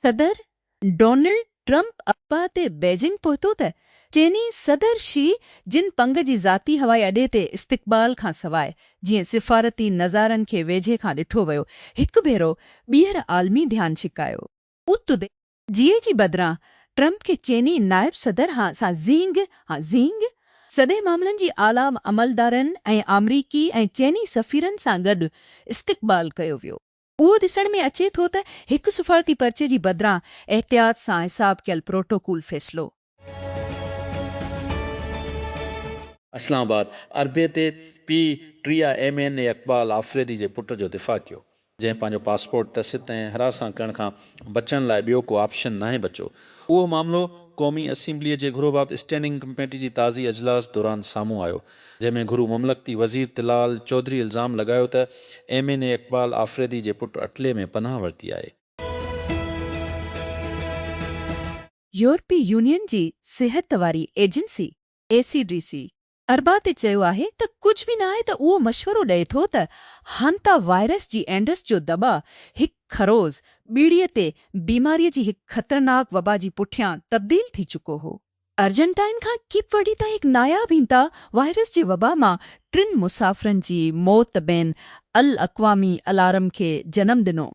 صدر Donald Trump ابا تي بيجنگ پهتو ته چيني صدر شي جن پنگ جي ذاتي هوائي اڏي تي استقبال کانسواء جيئن سفارتي نظارن کي ويجهي کان ڏٺو ويو، هڪ ڀيرو ٻيهر عالمي ڌيان ڇڪايو. اتي جيئي جي بدران ٽرمپ کي چيني نائب صدر هان سان زينگ، Han Zheng، سڏي معاملن جي اعليٰ عملدارن ۽ آمريڪي ۽ چيني سفيرن سان گڏ استقبال ڪيو ويو. اهو ڏسڻ ۾ اچي ٿو ته هڪ سفارتي پرچي جي بدران احتياط سان حساب ڪيل پروٽوڪول فيصلو. اسلام آباد، اربع تي P T I M N A Iqbal Afridi جي پٽ جو دفاع ڪيو، جنهن پنهنجو پاسپورٽ ٽسٽ ۽ هراسان ڪرڻ کان بچڻ لاء ٻيو ڪو آپشن ناهي بچو. اهو معاملو قومي اسيمبليء جي گهرو بابت اسٽينڊنگ ڪميٽي جي تازي اجلاس دوران سامهون آيو، جنهن ۾ گهرو مملڪتي وزير طلال چوڌري الزام لڳايو ته M N A Iqbal Afridi جي پٽ اٽلي ۾ پناهه ورتي آهي. يورپي يونين جي صحت واري agency, E C D C, اربع تي چيو آهي ته ڪجهه به ناهي ته اهو مشورو ڏئي ٿو ته هانتا وائرس جي اينڊس جو دٻاء هڪ خروز ٻيڙيء تي بيماريء جي هڪ خطرناڪ وبا جي پٺيان تبديل ٿي چڪو هو. ارجنٽائن کان ڪيپ ورڊي تائين هڪ ناياب هانتا وائرس جي وبا مان ٽن مسافرن جي موت بين الاقوامي الارم کي جنم ڏنو.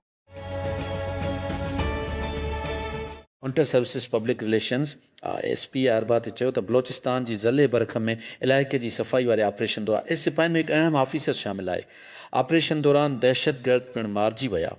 Inter services public relations, I S P, اربع تي چيو ته بلوچستان جي ضلعي برکم ۾ علائقي جي صفائي واري آپريشن دوران ايس سپاهين ۾ هڪ اهم آفيسر شامل آهي، آپريشن دوران دهشتگرد پڻ مارجي ويا.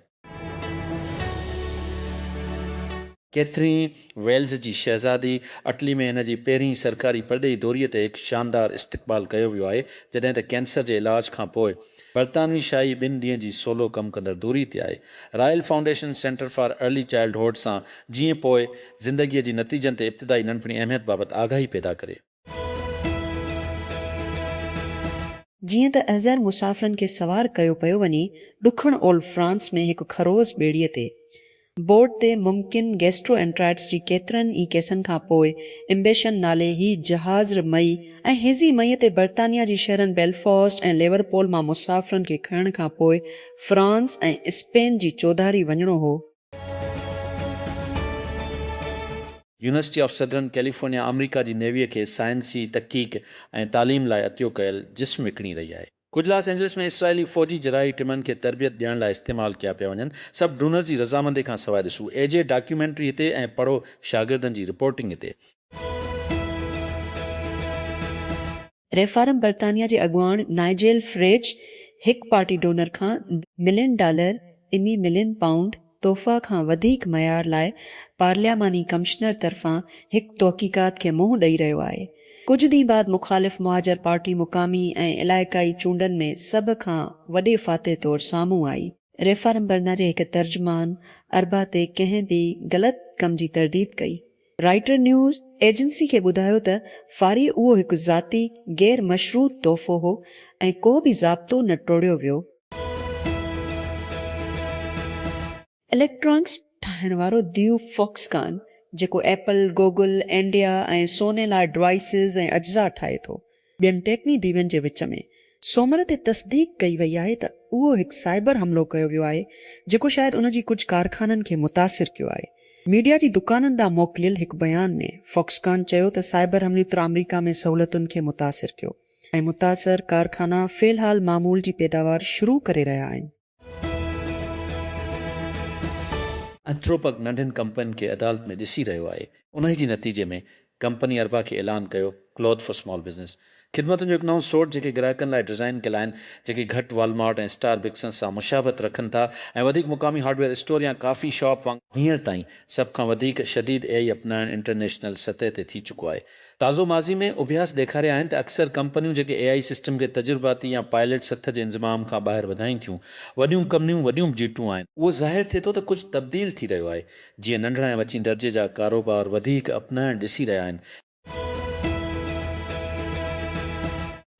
ڪيٿرين ويلز جي شهزادي اٽلي ۾ هن جي پهرين سرڪاري پرڏيهي دوري تي هڪ شاندار استقبال ڪيو ويو آهي جڏهن ته ڪينسر جي علاج کانپوء برطانوي شاهي ٻن ڏينهن جي سولو ڪم ڪندڙ دوري تي آئي. Royal foundation centre for early childhood سان جيئن پوء زندگيء جي نتيجن تي ابتدائي ننڍپڻي اهميت بابت آگاهي پيدا ڪري. جيئن ته احضر مسافرن کي سوار ڪيو پيو وڃي ڏکڻ اولهه فرانس ۾ هڪ خروس ٻيڙيء تي. بورڊ تي ممڪن گيسٽرو انٽرائٽس جي ڪيترن ئي ڪيسن کان پوء امبيشن نالي هي جهاز ر مئي ۽ هيزي مئي تي برطانيا جي شهرن بيلفاسٽ ۽ ليورپول مان مسافرن کي کڻڻ کان پوء فرانس ۽ اسپين جي چوڌاري وڃڻو هو. يونيورسٽي آف سدرن ڪيليفورنيا آمريڪا جي نيويء کي سائنسي تحقيق ۽ تعليم لاء عطيو ڪيل جسم وڪڻي رهي آهي. ڪجهه لاس اينجلس ۾ اسرائيلي فوجي جراحي ٽمن کي تربيت ڏيڻ لاء استعمال ڪيا پيا وڃن، سڀ ڊونرز جي رضامندي کان سواء ڏسو اي جي ڊاڪيومينٽري هتي ۽ پڙهو شاگردن جي رپورٽنگ هتي. ريفارم برطانيا جي اڳواڻ نائجيل فريج هڪ پارٽي ڊونر کان million dollar, Imi Million Pound، توفا کان وڌيڪ معيار لاء پارلياماني ڪمشنر طرفان هڪ تحقيقات کي منهن ڏئي رهيو آهي. ڪجهه ڏينهن بعد مخالف مهاجر پارٽي مقامي ۽ علائقائي چونڊن ۾ سڀ کان وڏي فاتح طور سامهون آئي. ريفارم برنا جي هڪ ترجمان اربع تي ڪنهن به غلط ڪم جي ترديد ڪئي. رائٽر نيوز ايجنسي کي ٻڌايو ته فاري اهو هڪ ذاتي غير مشروط تحفو هو ۽ ڪو به ضابطو نه ٽوڙيو ويو. اليڪٽرانڪس ٺاهڻ وارو ديو فوڪس ڪان جيڪو ايپل، گوگل، اينڊيا ۽ سوني لاء ڊوائيسز ۽ اجزا ٺاهي ٿو ٻين ٽيڪني ديوين جي وچ ۾ سومر تي تصديق ڪئي وئي آهي ته اهو هڪ سائبر حملو ڪيو ويو آهي جيڪو شايد ان جي ڪجهه ڪارخانن کي متاثر ڪيو آهي. ميڊيا جي دڪانن ڏانهن موڪليل هڪ بيان ۾ فاڪس ڪان چيو ته سائبر حملي تر آمريڪا ۾ سهولتن کي متاثر ڪيو ۽ متاثر ڪارخانا في الحال معمول جي پيداوار شروع ڪري رهيا آهن. انٿروپڪ ننڍين ڪمپنين کي عدالت ۾ ڏسي رهيو آهي، انهي جي نتيجي ۾ ڪمپني اربع کي اعلان ڪيو Cloth for Small Business خدمتن جو هڪ نئون سوٽ جيڪي گراهڪن لاء ڊزائين ڪيل آهن جيڪي گهٽ والمارٽ ۽ اسٽار بڪسن سان مشابهت رکن ٿا ۽ وڌيڪ مقامي هارڊويئر اسٽور يا ڪافي شاپ وانگر هينئر تائين سڀ کان وڌيڪ شديد ايائي اپنائڻ انٽرنيشنل سطح تي ٿي چڪو آهي. تازو ماضي ۾ اڀياس ڏيکاريا آهن ته اڪثر ڪمپنيون جيڪي اي آئي سسٽم کي تجرباتي يا پائليٽ سٿ جي انضمام کان ٻاهر وڌائين ٿيون، وڏيون ڪمنيون وڏيون بجيٽون آهن، اهو ظاهر ٿئي ٿو ته ڪجهه تبديل ٿي رهيو آهي، جيئن ننڍڙا ۽ وچين درجي جا ڪاروبار وڌيڪ اپنائڻ ڏسي رهيا آهن.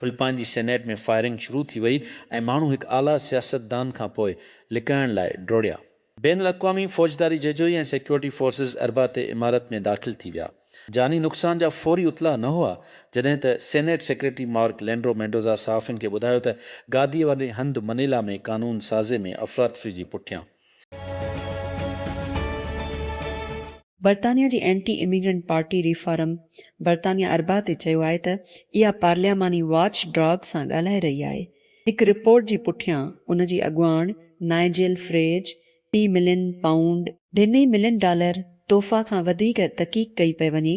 فلپائن جي سينيٽ ۾ فائرنگ شروع ٿي وئي ۽ ماڻهو هڪ اعليٰ سياستدان کان پوء لڪائڻ لاء ڊوڙيا. بين الاقوامي فوجداري ججوئي ۽ سيڪيورٽي فورسز اربع تي عمارت ۾ داخل ٿي ويا. جاني نقصان جا فوري اطلاع نه هئا، جڏهن ته senate secretary Mark Leandro Mendoza صحافين کي ٻڌايو ته گادي واري هنڌ منيلا ۾ قانون سازي ۾ افراتفري جي پٺيان برطانيا جي اينٽي اميگرنٽ پارٽي ريفارم برطانيا اربع تي چيو آهي ته اها پارلياماني واچ ڊاگ سان ڳالهائي رهي آهي. هڪ رپورٽ جي پٺيان ان جي اڳواڻ نائجيل فريج ٽي ملين پائونڊ، ٽي ملين ڊالر، تحفا کان وڌيڪ تحقيق ڪئي پئي وڃي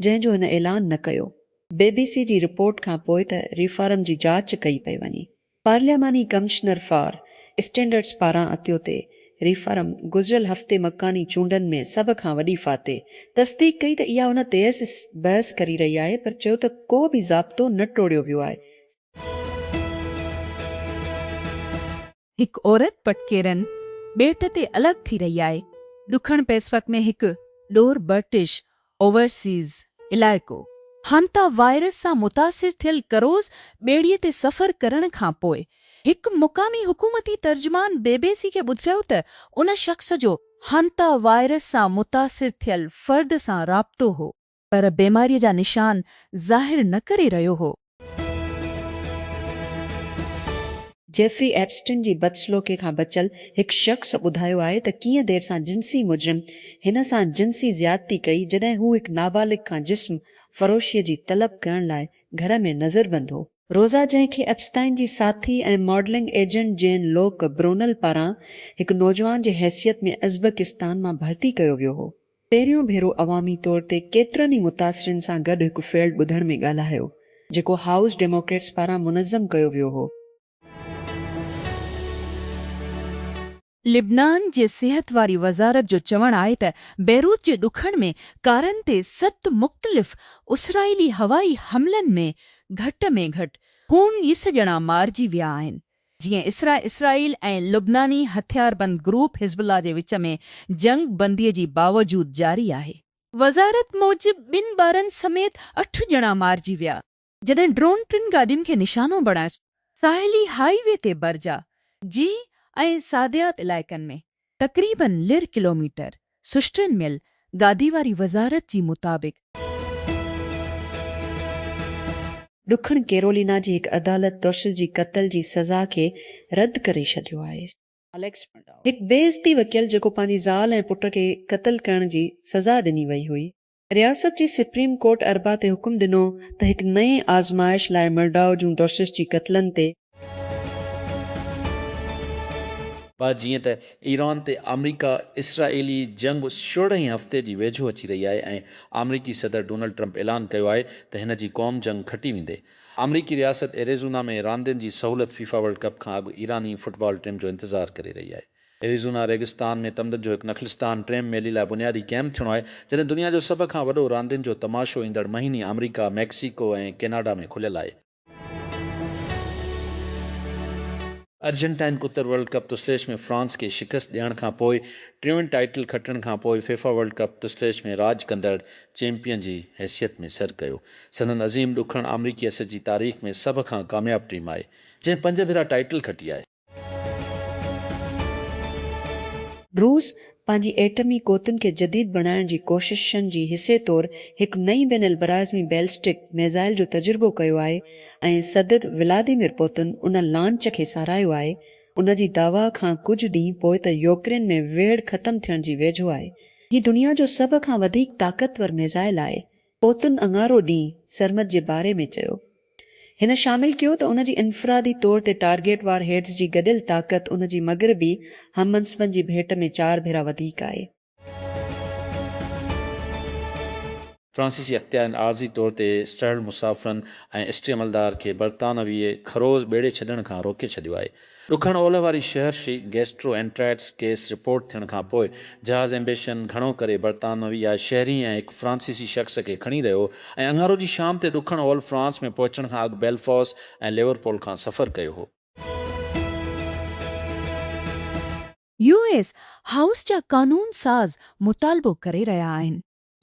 جنهن جو هن اعلان نه ڪيو. بي بي سي جي رپورٽ کان پوء ته ريفارم جي جاچ ڪئي پئي وڃي. پارلياماني ڪمشنر فار اسٽينڊرڊز پاران اتيو تي ريفارم گذريل هفتي مڪاني چونڊن ۾ سڀ کان وڏي فاتح تصديق ڪئي ته اها ان تيس بحث ڪري رهي آهي پر چيو ته ڪو به ضابطو نه ٽوڙيو ويو آهي. هڪ عورت پٽڪيرن ٻيٽ تي الڳ ٿي رهي آهي. ڏکڻ پئسفڪ ۾ هڪ ڏور برٽش اوورسيز علائقو. هانتا وائرس سان متاثر ٿيل ڪروز ٻيڙي تي سفر ڪرڻ کان پوء هڪ مقامي حڪومتي ترجمان بي بي سي کي ٻڌايو ته ان شخص جو هانتا وائرس سان متاثر ٿيل فرد سان رابطو هو. پر بيماريء جا نشان ظاهر نه ڪري رهيو هو. جيفري ايپسٽن جي بدسلوڪي کان بچيل هڪ شخص ٻڌايو آهي ته ڪيئن دير سان جنسي مجرم هن سان جنسي زيادتي ڪئي جڏهن هو هڪ نابالغ کان جسم فروشيء جي طلب ڪرڻ لاء گهر ۾ نظربند هو. روزا جنهن کي ايپسٽائن جي ساٿي ۽ modelling agent Jean Luc Brunel پاران هڪ نوجوان جي حيثيت ۾ ازبڪستان مان ڀرتي ڪيو ويو هو، پهريون ڀيرو عوامي طور تي ڪيترن ئي متاثرين سان گڏ هڪ فيلڊ ٻڌڻ ۾ ڳالهايو، جيڪو هائوس ڊيموڪريٽس پاران منظم ڪيو ويو هو. لبنان جي صحت واري وزارت جو چوڻ آهي ته بيروت جي ڏکڻ ۾ ڪارن تي ست مختلف اسرائيلي هوائي حملن ۾ گهٽ ۾ گهٽ اڻ ويهه ڄڻا مارجي ويا آهن. جيئن اسرا اسرائيل ۽ لبناني هٿياربند گروپ حزب الله جي وچ ۾ جنگ بندي جي باوجود جاري آهي. وزارت موجب ٻن ٻارن سميت اٺ ڄڻا مارجي ويا جڏهن ڊرون ٽن گاڏين کي نشانو بڻائي ساحلي هائي وي تي برجا، جيهه ۽ ساديات علائقن ۾ تقريباً لر ڪلوميٽر، سشٽرين ميل، گادي واري وزارت جي مطابق، ڏکڻ ڪيرولينا جي هڪ عدالت ٽرشل جي قتل جي سزا کي رد ڪري ڇڏيو آهي. هڪ بي عزتي وڪيل جيڪو پنهنجي زال ۽ پٽ کي قتل ڪرڻ جي سزا ڏني وئي هئي، رياست جي سپريم ڪورٽ اربع تي حڪم ڏنو ته هڪ نئين آزمائش لاء مرڊائو جون ڊوسش جي قتلن تي. پر جيئن ته ايران تي آمريڪا اسرائيلي جنگ سورهين هفتي جي ويجهو اچي رهي آهي ۽ آمريڪي صدر ڊونلڊ ٽرمپ اعلان ڪيو آهي ته هن جي قوم جنگ کٽي ويندي. آمريڪي رياست ايريزونا ۾ راندين جي سهولت فيفا ورلڊ ڪپ کان اڳ ايراني فٽبال ٽيم جو انتظار ڪري رهي آهي. ايريزونا ريگستان ۾ تمدن جو هڪ نخلستان ٽيم ميلي لاء بنيادي ڪئمپ ٿيڻو آهي، جڏهن دنيا جو سڀ کان وڏو راندين جو تماشو ايندڙ مهيني آمريڪا، ميڪسيڪو ۽ ڪيناڊا ۾ کليل آهي. ارجنٽائن ڪتر ورلڊ ڪپ تسليش ۾ فرانس کي شڪست ڏيڻ کان پوء ٽيون ٽائيٽل کٽڻ کان پوء فيفا ورلڊ ڪپ تسليش ۾ راڄ ڪندڙ چيمپيئن جي حيثيت ۾ سر ڪيو. سندن عظيم ڏکڻ آمريڪي اثر جي تاريخ ۾ سڀ کان ڪامياب ٽيم آهي، جنهن پنج ڀيرا ٽائيٽل کٽي آهي. روس پنهنجي ايٽمي قوتن کي جديد بڻائڻ جي ڪوششن جي حصي طور هڪ نئين بين البراعظمي بيلسٽڪ ميزائل جو تجربو ڪيو آهي ۽ صدر ولاديمير پوتن ان لانچ کي ساراهيو آهي. ان جي دعويٰ کان ڪجهه ڏينهن پوء ته يوڪرين ۾ ويڙهه ختم ٿيڻ جي ويجهو آهي. هي دنيا جو سڀ کان وڌيڪ طاقتور ميزائل آهي، پوتن اڱارو ڏينهن سرمد جي باري ۾ چيو. هن شامل ڪيو ته ان جي انفرادي طور تي ٽارگيٽ وار هيڊز جي گڏيل طاقت ان جي مغربي هم منصبن جي ڀيٽ ۾ چار ڀيرا وڌيڪ آهي. فرانسيسي اختيارين عارضي طور تي اسٽرهل مسافرن ۽ اسٽري عملدار کي برطانوي خروز ٻيڙي ڇڏڻ کان روڪي ڇڏيو آهي. ڏکڻ اولهه واري شهر شي گيسٽرو اينٽرائيٽس ڪيس رپورٽ ٿيڻ کانپوء جهاز ايمبيشن گهڻو ڪري برطانوي يا شهري ۽ هڪ فرانسيسي شخص کي کڻي رهيو هو ۽ اڱارو جي شام تي ڏکڻ اولهه فرانس ۾ پهچڻ کان اڳ بيلفاس ۽ ليورپول کان سفر ڪيو هو. يو ايس هائوس جا قانون ساز مطالبو ڪري رهيا آهن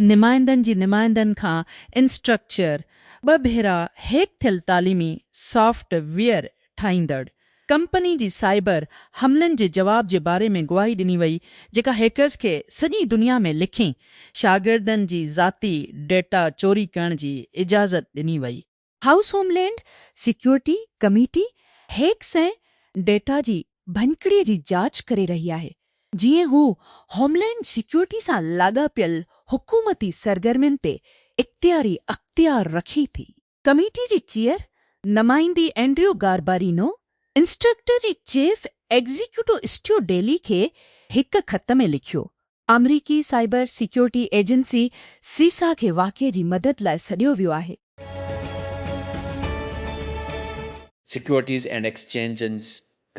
نمائندن جي نمائندن کان انسٽرڪچر، ٻه ڀيرا هيڪ ٿيل تعليمي سافٽ ويئر ٺاهيندڙ، ڪمپني جي سائبر حملن جي جواب جي باري ۾ گواهي ڏني وئي جيڪا هيڪرز کي سڄي دنيا ۾ لکين شاگردن جي ذاتي ڊيٽا چوري ڪرڻ جي اجازت ڏني وئي. هائوس هوم land security committee hacks ۽ data جي ڀڃڪڙي جي جاچ ڪري رهي آهي جيئن هو هوم لينڊ سيڪيورٽي سان لاڳاپيل حڪومتي سرگرمين تي اختياري اختيار رکي ٿي. ڪميٽي جي چيئر نمائندي اينڊريو گاربارينو انسٽرڪٽر جي چيف ايگزيڪيوٽو اسٽيو ڊيلي کي هڪ خط ۾ لکيو آمريڪي سائبر سيڪيورٽي ايجنسي سيسا کي واقعي جي مدد لاء سڏيو ويو آهي. سيڪيورٽيز اينڊ ايڪسچينجز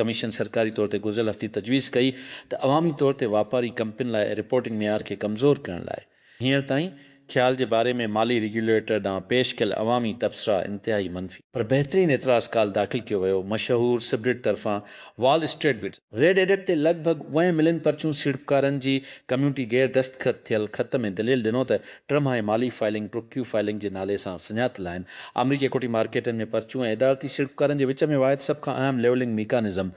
ڪميشن سرڪاري طور تي گذريل هفتي تجويز ڪئي ته عوامي طور تي واپاري ڪمپنين لاء رپورٽنگ معيار کي ڪمزور ڪرڻ لاء هينئر تائين خيال جي باري ۾ مالي ريگيوليٽر ڏانهن پيش ڪيل عوامي تبصرا انتهائي منفي. پر بهترين اعتراض ڪال داخل ڪيو ويو مشهور سبريڊ طرفان Wall Street Bets. Reddit تي لڳ ڀڳ اونهين ملين پرچون سيڙپڪارن جي ڪميونٽي غير دستخط ٿيل خط ۾ دليل ڏنو ته ٽرم هاء مالي فائلنگ پروڪٽيو فائلنگ جي نالي سان سڃاتل آهن آمريڪي ايڪوٽي مارڪيٽن ۾ پرچون ۽ ادارتي سيڙپڪارن جي وچ ۾ واحد سڀ کان اهم ليولنگ ميڪانزم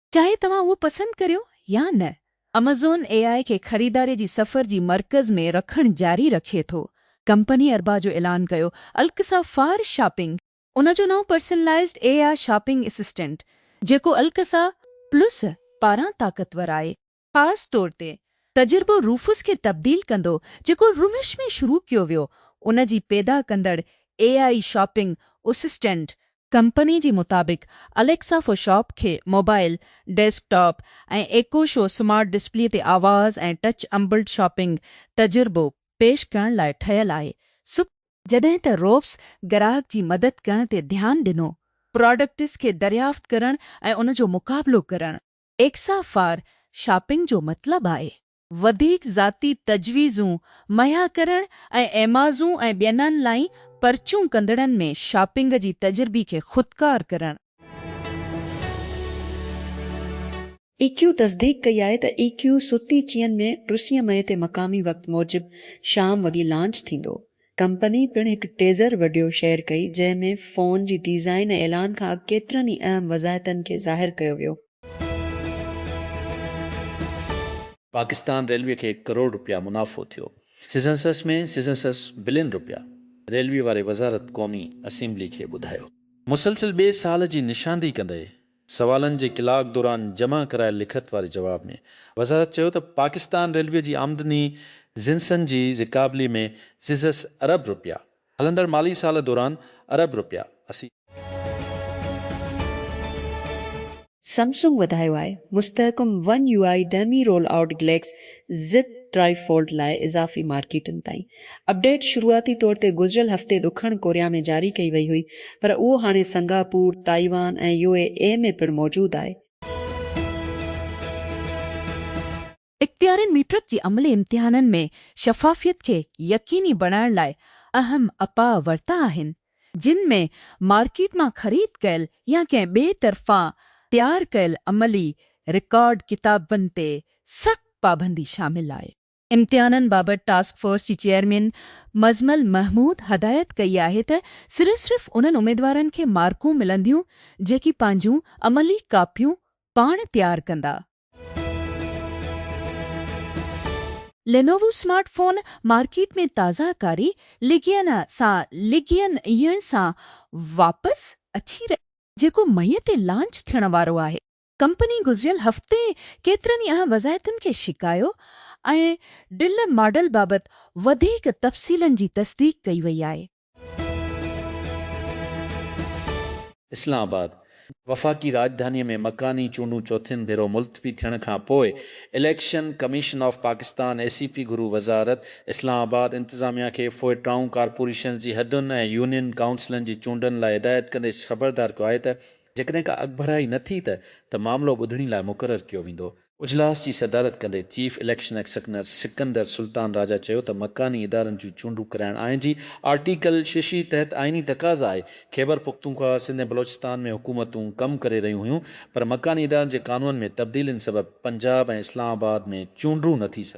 چاهي توهان اهو پسند ڪريو يا نه، امازون اي آء کي خريداري جي سفر جي مرڪز ۾ رکڻ جاري رکي ٿو. ڪمپني اربع جو اعلان ڪيو الڪسا فار شاپنگ. ان جو نئون personalized A I shopping assistant, جيڪو الڪسا پلس پاران طاقتور آهي، خاص طور تي تجربو روفس کي تبديل ڪندو جيڪو رمش ۾ شروع ڪيو ويو ان جي پيدا ڪندڙ A I shopping assistant company جي مطابق اليڪسا فور شاپ کي mobile, desktop ۽ Echo Show smart display تي آواز ۽ ٽچ امبلڊ شاپنگ تجربو پيش ڪرڻ لاء ٺهيل آهي سڪ. جڏهن ته روفس گراهڪ جي مدد ڪرڻ تي ڌيان ڏنو. پراڊڪٽس کي دريافت ڪرڻ ۽ ان جو مقابلو ڪرڻ. ايڪسا فار شاپنگ جو مطلب آهي. وڌيڪ ذاتي تجويزون مهيا ڪرڻ ۽ ايمازون ۽ ٻين آن لائين پرچون ڪندڙن ۾ شاپنگ جي تجربي کي خودڪار ڪرڻ. ايڪيو تصديق ڪئي آهي ته ايڪيو ستي چين ۾ ٽسين مئي تي مقامي وقت موجب شام وڳي لانچ ٿيندو. ڪمپني پڻ هڪ ٽيزر وڊيو شيئر ڪئي جنهن ۾ فون جي ڊيزائن ۽ اعلان کان اڳ ڪيترن ئي اهم وضاحتن کي ظاهر ڪيو ويو. پاڪستان ريلوي کي ڪروڙ رپيا منافعو ٿيو سيزنسس ۾ سيزنسس بلين رپيا ريلوي واري وزارت قومي اسيمبلي کي ٻڌايو. مسلسل ٻئي سال جي نشاندهي ڪندي سوالن جي ڪلاڪ دوران جمع ڪرايل لکت واري جواب ۾ وزارت چيو ته پاڪستان ريلوي جي آمدني جنسن جي زڪابلي ۾ جزس ارب رپيا هلندڙ مالي سال دوران ارب رپيا اسي سمسنگ وڌايو آهي مستحڪم ون يو آء ڊيمي roll out Galaxy Z try fold لاء اضافي مارڪيٽن تائين اپڊيٽ شروعاتي طور تي گذريل هفتي ڏکڻ ڪوريا ۾ جاري ڪئي وئي هئي پر اهو هاڻي Singapore, Taiwan ۽ U A E ۾ پڻ موجود آهي. اختيارين ميٽرڪ جي عملي امتحانن ۾ شفافيت کي يقيني بڻائڻ لاء اهم اپاء ورتا آهن، جن ۾ مارڪيٽ مان خريد ڪيل يا ڪنهن ٻئي طرفان تيار ڪيل عملي رڪارڊ ڪتابن تي سخت پابندي شامل آهي. امتحانن بابت ٽاسڪ فورس جي چيئرمين مزمل محمود هدايت ڪئي آهي ته صرف صرف انهن اميدوارن کي مارڪون ملنديون جيڪي پنهنجون عملي ڪاپيون پاڻ تيار ڪندا. لينووو اسمارٽ فون مارڪيٽ ۾ تازه ڪاري لگين سان لگين يڻ سان واپس اچي رهي آهي جيڪو مئي تي لانچ ٿيڻ وارو آهي. ڪمپني گذريل هفتي ڪيترن ئي اهم وضاحتن کي شڪايو ۽ ڊل ماڊل بابت وڌيڪ تفصيلن جي تصديق ڪئي وئي آهي. اسلام آباد، وفاقي راڄڌاني ۾ مڪاني چونڊون چوٿين ڀيرو ملتوي ٿيڻ کان پوء election commission of Pakistan, E C P, گهرو وزارت اسلام آباد انتظاميا کي فوء ٽائون ڪارپوريشنز جي حدن ۽ يونين ڪائونسلن جي چونڊن لاء هدايت ڪندي خبردار ڪيو آهي ته جيڪڏهن ڪا اڳڀرائي نه ٿي ته ته معاملو ٻڌڻي لاء مقرر ڪيو ويندو. اجلاس جي صدارت ڪندي chief election commissioner Sikandar Sultan Raja چيو ته مڪاني ادارن جون چونڊون ڪرائڻ آئين جي آرٽيڪل ششي تحت آئيني تقاضا آهي، خيبر پختونخوا، سنڌ ۽ بلوچستان ۾ حڪومتون ڪم ڪري رهيون هيون پر مڪاني ادارن جي قانونن ۾ تبديلين سبب پنجاب ۽ اسلام آباد ۾ چونڊون نه ٿي سگهيون.